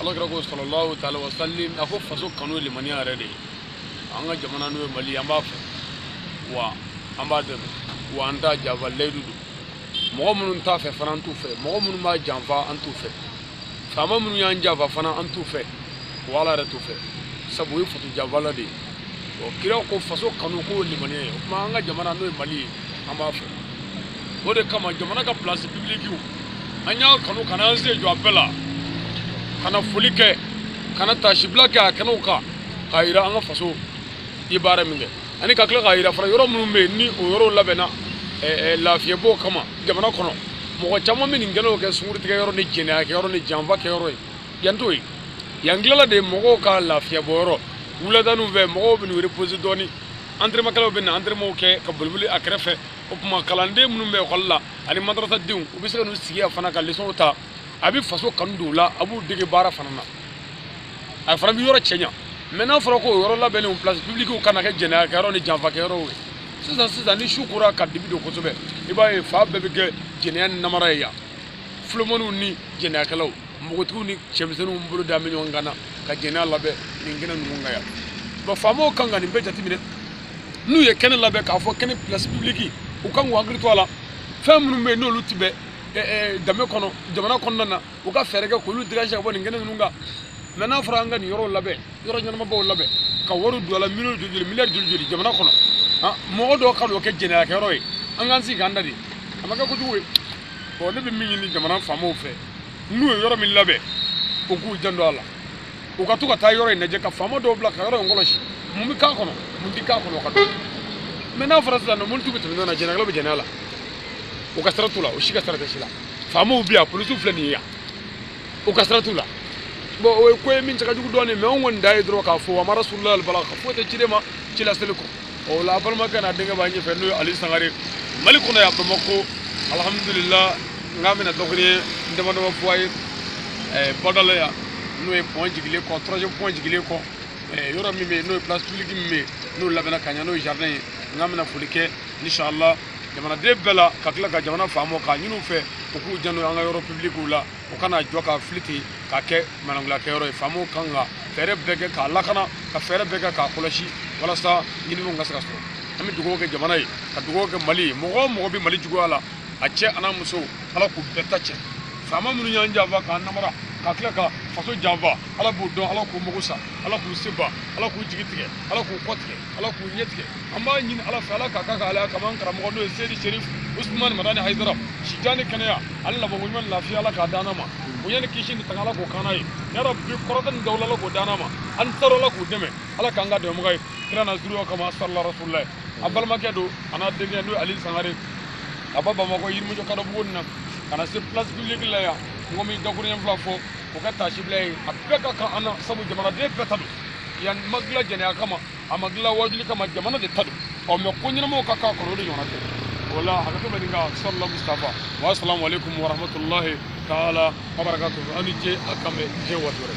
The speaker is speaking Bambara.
ala kira ko salalahu taala wa salam a ko faso kanu ye limaniya yɛrɛ de ye an ka jamana n'o ye mali an b'a fɛ wa an b'a dɛmɛ wa an t'a janfa layidu don mɔgɔ minnu t'a fɛ fana an t'u fɛ mɔgɔ minnu b'a janfa an t'u fɛ faama minnu y'an janfa fana an t'u fɛ wa ala yɛrɛ t'u fɛ sabu o ye faso janfala de ye ɔ kira ko faso kanu k'o ye limaniya ye o tuma an ka jamana n'o ye mali ye an b'a fɛ o de kama jamana ka place publique an y'a kanu ka n'an sen jɔ a bɛɛ la ka na foli kɛ ka na taasibila kɛ a kɛnɛw kan k'a yira an ka faso ye baara min kɛ ani ka tila k'a yira fana yɔrɔ minnu bɛ yen ni o yɔrɔw labɛnna lafiyɛbɔ kama jamana kɔnɔ mɔgɔ caman bɛ nin kɛnɛw kɛ sungurutigɛ yɔrɔ ni jɛnɛya kɛ yɔrɔ ni janfa kɛ yɔrɔ ye yan t'o ye yan dilala de mɔgɔw ka lafiyɛbɔ yɔrɔ wuladaninw fɛ mɔgɔw bɛ n'u repose dɔɔnin antremakɛlaw bɛ na antremaw kɛ ka boliboli a kɛrɛfɛ o tuma kalanden minnu bɛ ekɔli la ani madrasadenw u bɛ se ka n'u sigi yan fana ka lesɔnw ta a bɛ faso kanu don u la a b'u dege baara fana na a fana bɛ yɔrɔ cɛɲa mɛ n'a fɔra ko o yɔrɔ labɛnnen place publique ka na kɛ jɛnɛyakɛyɔrɔ ni janfakɛyɔrɔw ye sisan sisan ni su kora ka dibi don kosɛbɛ i b'a ye fan bɛɛ bɛ kɛ jɛnɛya ni namara ye yan fulomaniw ni jɛnɛyakɛlaw npogotigiw ni cɛmisɛnninw bolo da bɛ ɲɔgɔn kan na ka jɛnɛya labɛn nin kɛnɛ ninnu kan yan bon faamaw kan ka nin bɛɛ jateminɛ n'u ye kɛnɛ labɛn k'a fɔ kɛnɛ place publique u kan k'u hakili to a la fɛn minnu bɛ yen n'olu tɛ bɛn danbe kɔnɔ jamana kɔnɔna na u ka fɛɛrɛ kɛ k'olu dégage ka bɔ nin kɛnɛ ninnu kan mɛ n'a fɔra an ka nin yɔrɔw labɛn yɔrɔ ɲɛnamabaw labɛn ka wariw don a la miliyɔn joli joli miliyari joli joli jamana kɔnɔ mɔgɔ dɔw ka n'o kɛ jɛnɛyakɛyɔrɔ ye an k'an sigi k'an da de a ma kɛ kojugu ye bon ne bɛ min ɲini jamana faamaw fɛ n'u ye yɔrɔ min labɛn u k'u janto a la u ka to ka taa yɔrɔ in lajɛ ka faama dɔw bila ka yɔrɔ in kɔlɔsi mun bɛ k'a kɔnɔ mun tɛ k'a kɔnɔ o ka dɔn mɛ n'a fɔra sisan nɔ mɔntu bɛ tɛmɛ ɲɔgɔn na jɛnɛyakɛlaw bɛ jɛnɛya la u ka sira t'u la u si ka sira tɛ si la faamaw bɛ yan polisiw filɛ nin ye yan u ka sira t'u la bon o ye ko ye min cɛ ka jugu dɔɔnin mɛ anw kɔni da ye dɔrɔn k'a fɔ wa ma rasulu ila balaga foyi tɛ ciden ma ci laseli kɔ o la a balimakɛ n'a denkɛ b'a ɲɛfɛ n'o ye ali sangare mali kɔnɔ yan bamakɔ alhamdulila n k'an bɛna dɔgɔnin dama dama fɔ a ye eh, badala yan n'o ye pɔn jigilen kɔ troisième pɔn jigilen kɔ eh, yɔrɔ min bɛ yen n'o ye place publique min bɛ yen n'o labɛnna ka ɲɛ n'o ye jardin ye n k'an bɛna foli kɛ inshallah jamanaden bɛɛ la ka tila ka jamana faamaw k'a ɲini u fɛ u k'u janto an ka yɔrɔ publique la o kana jɔ ka fili ten ka kɛ manangulakɛyɔrɔ ye faamaw kan ka fɛɛrɛ bɛɛ kɛ k'a lakana ka fɛɛrɛ bɛɛ kɛ k'a kɔlɔsi walasa ɲininiw ka se ka sɔrɔ an bɛ dugawu kɛ jamana ye ka dugawu kɛ mali ye mɔgɔ o mɔgɔ bɛ mali juguya la a cɛ an'a muso ala k'u bɛɛ ta cɛ faama minnu y'an janfa k'an namara ka tila ka faso janfa ala b'u dɔn ala k'u mago sa ala k'u seba ala k'u jigi tigɛ ala k'u kɔ tigɛ ala k'u ɲɛ tigɛ an b'a ɲini ala fɛ ala ka ka ala ka man karamɔgɔ n'o ye seyidi serif usumani madani hayidara si jan ni kɛnɛya ani laban ko ɲuman lafiya ala k'a d'an n'a ma o yanni kisi ni tanga ala k'o k'an n'a ye yarabi kɔrɔta ni dawula ala k'o d'an n'a ma an taara ala k'u dɛmɛ ala k'an k'a dɛmɛbaga ye kira n'a zuriya kama salila rasulila ye a balimakɛ don a n'a denkɛ n'o ye ali sangare ka bɔ bamakɔ yirimajɔ kadobuguni na ka na se place publique la yan n ko min dakuruɲɛ fila fɔ k'o kɛ taasibila ye a bɛɛ ka kan an na sabu jamanaden bɛɛ ta don yan ma dilan jɛnɛya kama a ma dilan wajuli kama jamana de ta don ɔ mais ko ɲɛnamaw ka k'a kɔrɔ o de ɲɔgɔnna tɛ o la hakɛto bɛ nin kan salala mustafa wa salamu aleykum wa rahmatulahi taala wa barakatu aw ni ce a k'an bɛn diɲɛ waati wɛrɛ